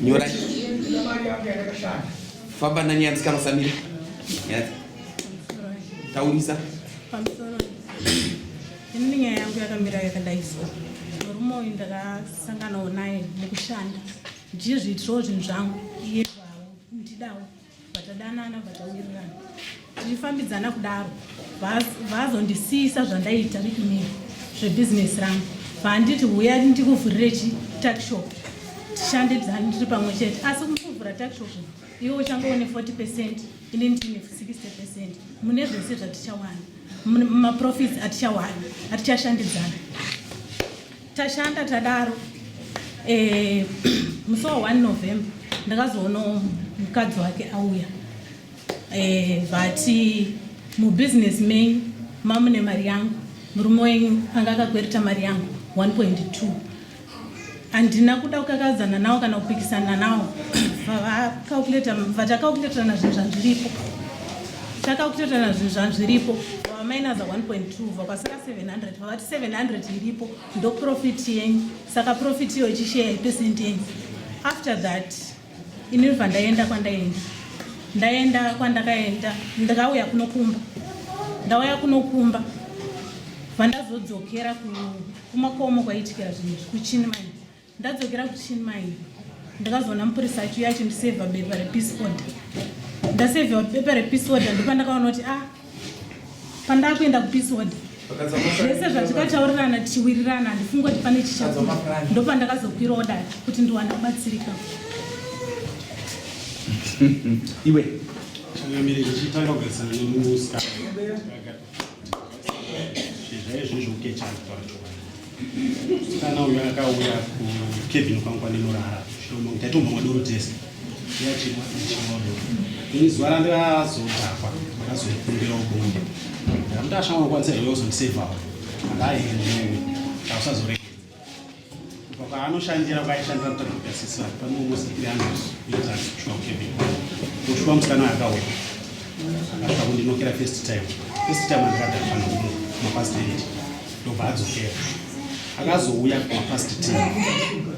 nyora famba nani yandisika masamira taurisa ini nyaya yangu yakamira yakadai so murume uyu ndakasanganawo naye mukushanda ndiye zviitirawo zvinhu zvangu iye zvawo ndidawo Batadanana batawirirana tichifambidzana kudaro vazondisiisa zvandaita rikumira zvebhizinesi rangu vanditi huya ndikuvhurire chitakshop tishande dzani tiri pamwe chete asi kuvhura takshop iwe uchangove ne40 percent ini ndine 60 percent mune zvese zvatichawana maprofits atichawana atichashandidzana Tashanda tadaro eh, musi wa 1 November ndakazoona mukadzi wake auya eh, vati mubusiness menyu mamune mari yangu murume wenyu anga akakwereta mari yangu 1.2 handina kuda kukakadzana nawo kana kupikisana nawo vatakakuleterana zvinhu zvandiripo takakuleterana zvinhu zvandiripo vamainaza 1.2 vakasara 700 vati 700 iripo ndoprofit yenyu saka profit iyo ichisheya ipesent yenyu after that ini bva ndaenda kwandaenda ndaenda kwandakaenda ndakauya kunokumba ndauya kunokumba vandazodzokera kumakomo kwaitikira zvinhu zvekuchini mai ndadzokera kuchini mai ndakazoona mupurisa achiuya achindisevha bepa repeace order ndasevhiwa bepa repeace order ndopandakaona kuti a ah, pandaa kuenda kupeace order zvese zvatikataurirana tichiwirirana handifungi kuti pane chichakua ndopandakazokwira oda kuti ndiwane kubatsirika iwe changamiriri chitanga kugarisana nemusikana zvaizvizvo ukechana kutaura chokwadi Kana uyo akauya kukebhini kwangu kwandinorara shoma kuti atomba madoro tese yachimwa chimodo ini zuva randazodhakwa ndakazokumbira ukumba ndakuti ashama unokwanisa here uzondisevhawo akaendewe ausazoregedza paanoshandira kwaaishandira kutakugasisa panomusiianosvika kukebhini kusvika musikana akauya akasvika kundinokera first time first time andikadhakwa nokuno mapasiteti ndobva adzokera akazouya kumapast t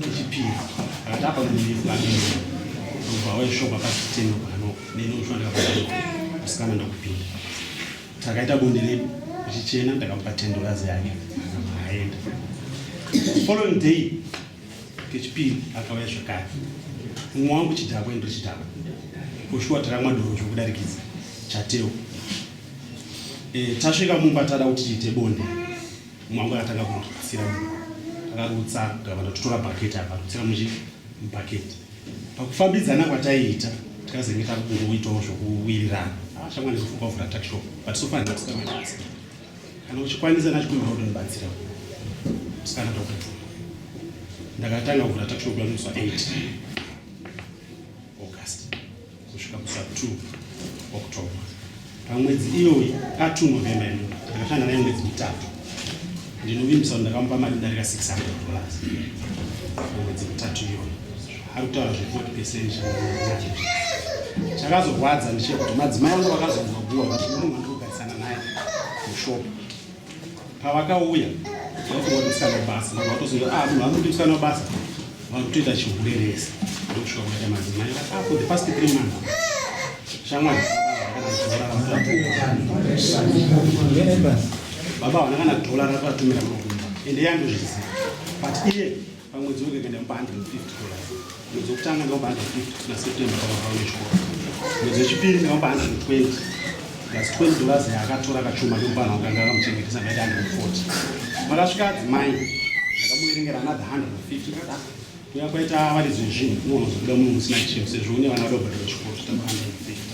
echipiri akati apa muiaii ndobva auya shop apast t nobano neni ufanira kusikana ndakupinda takaita bonde redu uchichena ndakamupa tendorazi yake aenda following day kechipiri akauya zvakare umwe wangu chidhakwa endo chidhakwa kushuwa taramwa doro chokudarikidza chateo Eh, tasvika mumba tada kuti tiite bonde mwangu akatanga kundirutsira akarutsa gavana totora bhaketi akarutsira muchi bhaketi pakufambidzana kwataiita tikazenge takungoitawo zvokuwirirana havachamwa nezofunga kuvhura takshop but so far ndatikamabasa kana uchikwanisa nachikuimba kutonibatsira sikana tokati ndakatanga kuvhura takshop yamusa 8 kusvika kusa 2 October. Pamwedzi iyoyi atu November ino ndakashanda naye mwedzi mitatu, ndinovimbisa kuti ndakamupa mari darika 600 dollars mwedzi mitatu iyoyi. Ari kutaura zve 40 percent chakazorwadza ndichekuti madzimai angu vakazongoguwa kuti munhu andikugarisana naye mushopo pavakauya vakuona musikana webasa vanhu vatoziva ah munhu anokuti musikana webasa vari kutoita chiurerese ndokusvika kuita madzimai vati ah for the past three months shamwari baba havana kana dollar ravatumira makumba ende yandozviziva but iye pamwedzi wega kuenda pa 150 dollars mwedzi wekutanga ndinopa 150 na september pamavao nechikoro mwedzi wechipiri ndinopa 120 plus 20 dollars yaakatora kachuma kemupana wakanga akamuchengetesa ngaita 140 makasvika adzimai ndakamuverengera another 150 kada kuya kwaita varidzi vezvinhu unoona zvokuda munhu musina chinhu sezvo une vana vadobhadhara chikoro zvitamba 150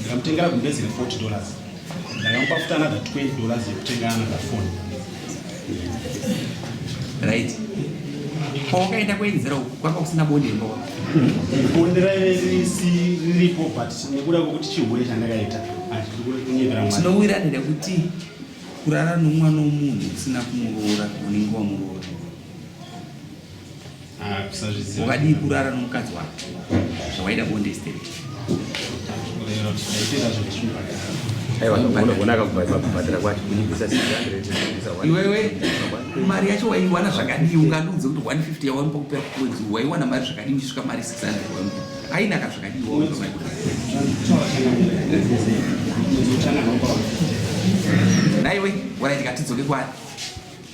Ndikamutengera gumbezi dzine 40 dollars ndakamupa futi another 20 dollars yekutenga another phone right kwawakaenda kuenzera uku kwanga kusina bonde ndo bonde raive riripo but nekuda kwekuti chihure chandakaita tinowirana nekuti kurara nomwana womunhu usina kumuroora unenge wamuroora wakadii kurara nomukadzi wako zvawaida bonde steri iwewe mari yacho waiwana zvakadii ungandiudze kuti 150 yawaipa kupera kumwedzi waiwana mari zvakadii uchisvika mari 600 waipa ainaka zvakadii naiwe waraiti katidzoke kwani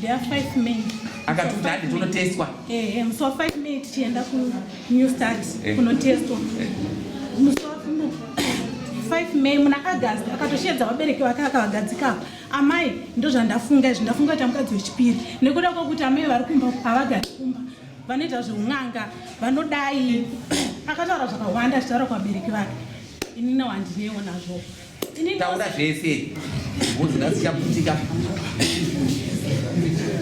There are five men. Akati kuti hadi tonotestwa. Eh, eh, musi wa five men tichienda ku new start eh. kunotestwa. Eh. Musi wa five men muna August akatosheedza vabereki vake akavagadzika. Amai ndozvandafunga izvi ndafunga kuti amukadzi wechipiri nekuda kwokuti amai vari kumba havagari kumba vanoita zveun'anga vanodai akataura zvakawanda achitaura kuvabereki vake inina wandinewo nazvo taura zvese muzingasichaputika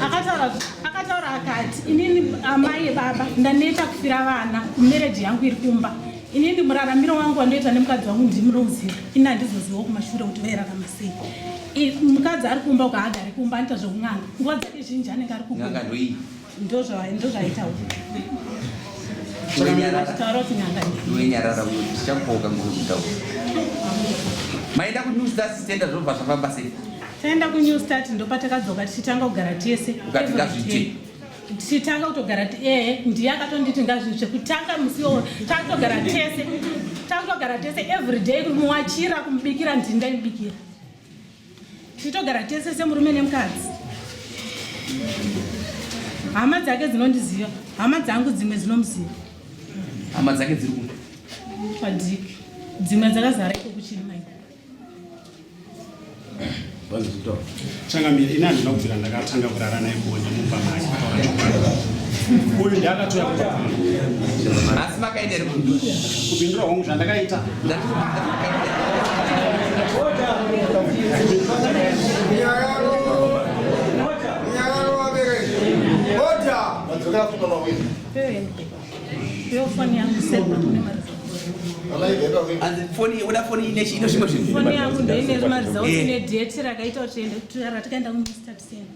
akataura akataura akati inini amai ebaba ndaneta kufira vana mereji yangu iri kumba inini muraramiro wangu wandoita nemukadzi wangu ndimurauziva ini handizoziva kumashure kuti vairarama sei mukadzi ari kumba ukaagari kumba anoita zvekun'anga nguva dzake zhinji anenge ari kuunga ndozvaitaura wenyarara uyo tichakupoka ngokutaura maenda kunew star sitenda zvobva zvafamba sei taenda kunew start ndopatakadzoka tichitanga kugara tese ukati ngazviite tichitanga kutogara ee ndiye akatonditi ngazviite kutanga musi wo takutogara tese takutogara tese every day kumuwachira kumubikira ndindaimubikira tichitogara tese semurume nemukadzi hama dzake dzinondiziva hama dzangu dzimwe dzinomuziva hama dzake dziri kupi padiki dzimwe dzakazara iko kuchiri mai changamire ini handina kubvira ndakatanga kurara naye bonde mumba maki kutaura chokwadi uyu ndiakatoya kuasi makaendere kupindura hongu zvandakaita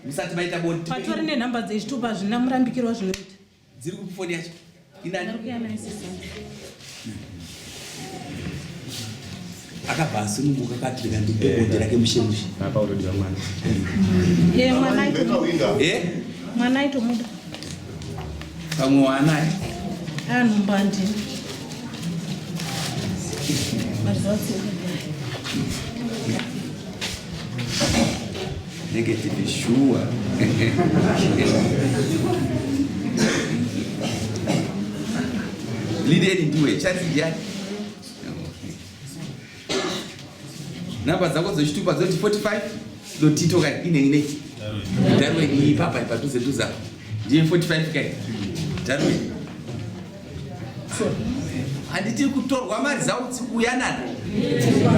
musati maita bondipatori nenhamba dzezvitupa zvina murambikirwa zvinoita dziri kupi foni yacho inani akabva asununguka kati ndikandipe bonde eh, rake mushemushe apa utodiwa mwana ye mwana ye mwana itomuda pamwe waanaye anhumba ndini mazuva Negative shuwa. Lideni ndiwe chati ndiani? Namba dzako dzechitupa dzoti 45 dotito kai ine ine. Darwe iyi papa ipadhuze dhuza. Ndiye 45 kai. Darwe. handiti kutorwa mari zautsi kuuya nani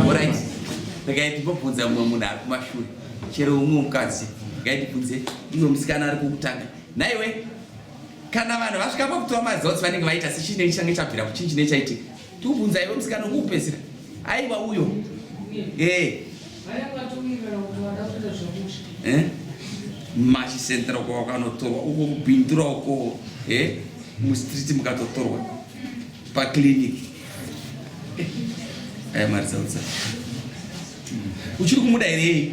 orit ndikaiti mbobvunza mumwe munhu ari kumashure chero umwe mukadzi ndikaiti bvunze imwe musikana ari kukutanga naiwe kana vanhu vasvika pakutora mari zautsi vanenge vaita sechinenge change chabvira kuchii chinee chaitika tikubvunza iwe musikana ukupedzisira aiwa uyo ee eh. eh? mashi central kwawakanotorwa uko kubhindura uko eh? mustreet mukatotorwa paclinic aya eh, mari dzautsa uchiri kumuda here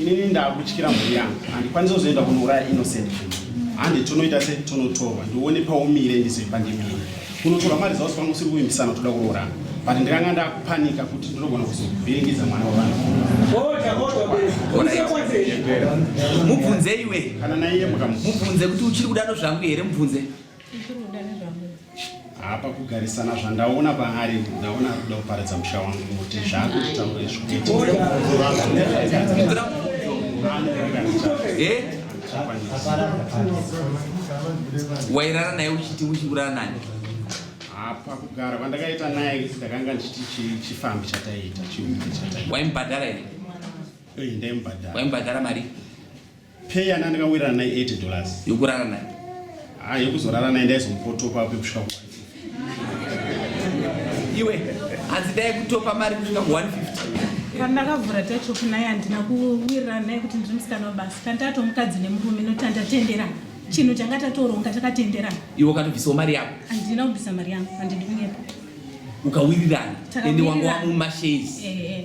inini ndakutyira mhuri yangu handikwanisa kuzoenda kunouraya innocent handi tonoita se tonotorwa ndione paumire ndizoipa ndimire kunotorwa mari zaosi pangu usiri kuvimbisana toda kuroorana but ndikanga ndakupanika kuti ndinogona kuzovhiringidza mwana wavanhu mubvunze iwe kana naiye mukamubvunze kuti uchiri kudaro zvangu here mubvunze hapa kugarisana zvandaona paari ndaona ari kuda kuparidza musha wangu kuti zvaakutitaura izviwairara naye uchiti uchiuraya nani hapa kugara kwandakaita naye ndakanga ndichiti chifambi chataiita chiume chataita waimubhadhara here eh, ndaimubhadhara waimubhadhara mari Pay yana ndakawirana naye 80 dollars. Yokurara naye. Ah, yokuzorara naye ndaizomupotopa apo kusvika ku. Iwe hanzi dai kutopa mari kusvika ku 150. Kana ndakavhura tacho kunaye handina kuwirana naye kuti ndiri musikana wabasa. Kana taato mukadzi nemurume noti handatenderana. Chinhu changa tatoronga takatenderana. Iwe ukatobvisawo mari yako. Handina kubvisa mari yangu, handidi kunyepa. Ukawirirana ende wanga wamumashezi. Eh, eh.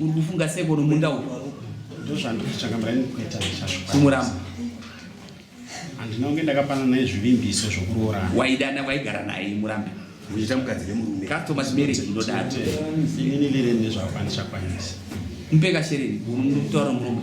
Uri kufunga sei kono munda uyu? Ndozvandikutsvaga mara inikweta ndichasvika. Kumuramba. Handina kunge ndakapana naye zvivimbiso zvokuroorana. Waidana waigara naye murambi. Uchiita mukadzi nemurume. Customer marriage inodaro. Inini lirende zvakwanisa kwanisa. Mupeka shereni, unotaura murume.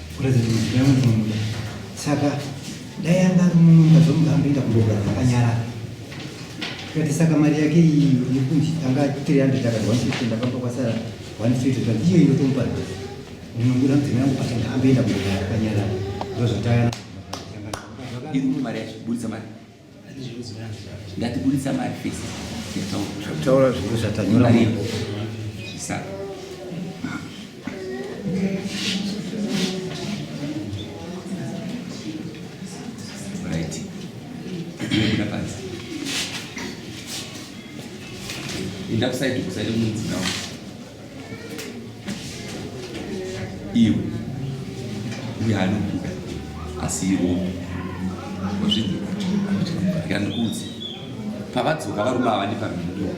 President Mugabe ndinomuda. Saka dai anga ari munhu ungazomuda amboenda kumboga akanyarara. Kati saka mari yake iyi yekunzi anga 300 akati 150 ndakapa kwasara 150 kati iyo inotomupa ndinomuda mudzimai yangu patanga amboenda kumboga akanyarara. Ndozvatayana. Iri mari yacho, buritsa mari. Ndatiburitsa mari fesi. Taura zvinhu zvatanyora. Saka. Enda kusaidi kusaidi munzi nawo. iwe uye anokuda asi iromi wazvinzira ndikuudze pavadzoka varume ava ndipamhindura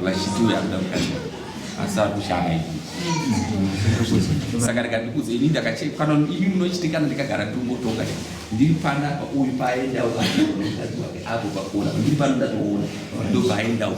vachiti uyo anoda kukaiwa asi ari kushanga ivi saka rega ndikuudze ini ndakachekana ini munochitikana ndikagara ndingotonga ndiri pana uyu paaendawo apo pakona ndiri pano ndatoona ndobva aendawo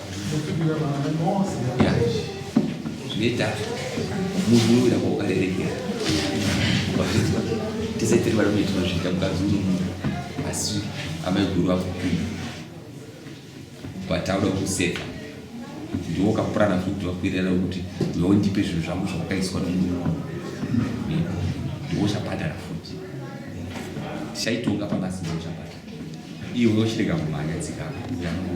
zvinoita munhu unoita kwaukarerekera wazvinzwa tese tiri varume tinozviita mukadzi unomuda asi amai guru vakupinda vatauda kuseka ndiwo ukapurana futi vakuirera kuti iwewo ndipe zvinhu zvangu zvavakaiswa nomurume wangu ndiwo uchabhadhara futi tichaitonga pangasiwo uchabhadhara iwe uchirega kumhanya tsika yangu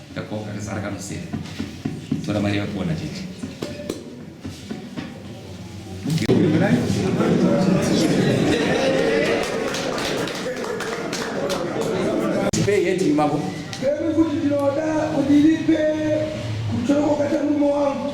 Ndakoka kazara kanosera. Tora mari yakona chete. Pay yet imako. Kemi kuti ndinoda kuti ndipe kuchoko kata mume wangu.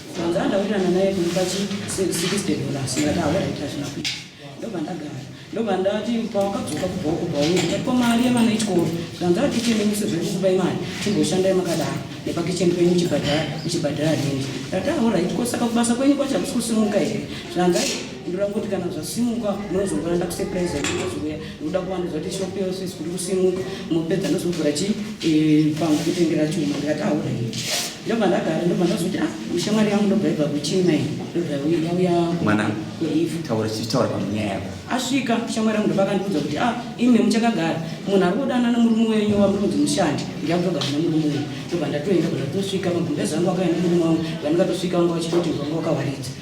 Saka ndawirirana naye kundipa chi 60 dollars ndikati awaraita zvina kuita ndobva ndagara ndobva ndati pawakadzoka kubva uko bvauri ndati ko mari yevana ichikoro zvanzara tichende muse zvedu kubai mari timboshandai makadaro nepakicheni kwenyu chibhadhara uchibhadhara rindi ndati awaraita ko saka kubasa kwenyu kwacho hakusi kusimuka here zvanzai ndorangoti kana zvasimuka munozongoranda kusepraiza ndozouya unoda kuvandudzwa kuti shop yose isikuti kusimuka mopedza ndozovhura chi eh, pangu kutengera chuma ndikati aure ndobva ndagara ndobva ndazoti a ah, shamwari yangu ndobva ibva kuchina iyi ndobva yauya mwana taura chichitaura panyaya yako asvika shamwari yangu ndobva akandiudza kuti a ah, imi muchakagara munhu ari kudana nemurume wenyu wamuronzi mushandi ndiyakutogara nemurume wenyu ndobva ndatoenda kuti atosvika magumbezi angu akaenda murume wangu vandikatosvika vanga vachitoti vanga wakawaridza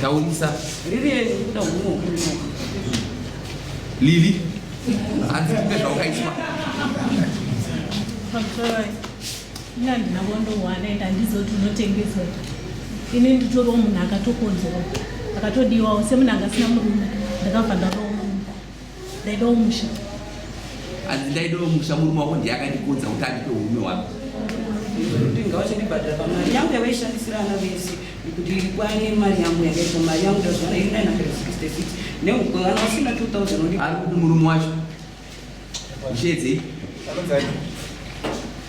Taurisa. Lili. Hanzi kumbe zvawakaiswa. Ina ndina wondowana enda ndizoti unotengeswa. Ini nditoriwo munhu akatokonzerwa. Akatodiwawo semunhu angasina murume. Ndakabva ndarowa. ndaidawo musha hanzi ndaidawo musha murume wako ndiye akandikonza kuti andipe urume wako kuti ngawachandibhadhara pamari yangu yavaishandisira ana vese kuti kwane mari yangu yakaita mari yangu ndazvana iri 966 neukwe vana vasina 2000 ari kuti murume wacho ishedzei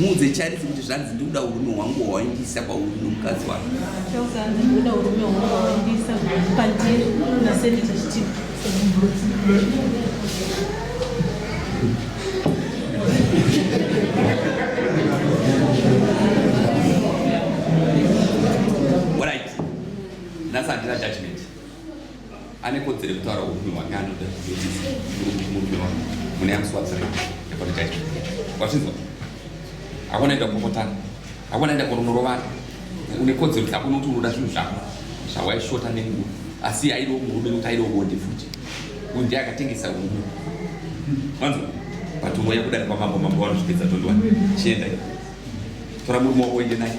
muudze charisi kuti zvanzi ndikuda urume hwangu hwawaindisa kwauri nomukadzi wako ane kodzero yekutaura upi hwake anoda murume wake mune yamuswadzira apologize wazvinzwa hakuna enda kupopotana hakuna enda kunonorovana une kodzero kuti hakuna kuti unoda zvinhu zvako zvawaishota nenguva asi aidiwo murume nokuti aidiwo bonde futi uyu ndiye akatengesa urume manzwa but mweya kudari kwamambo mambo vanozvipedza tondiwa chienda tora murume wako uende naye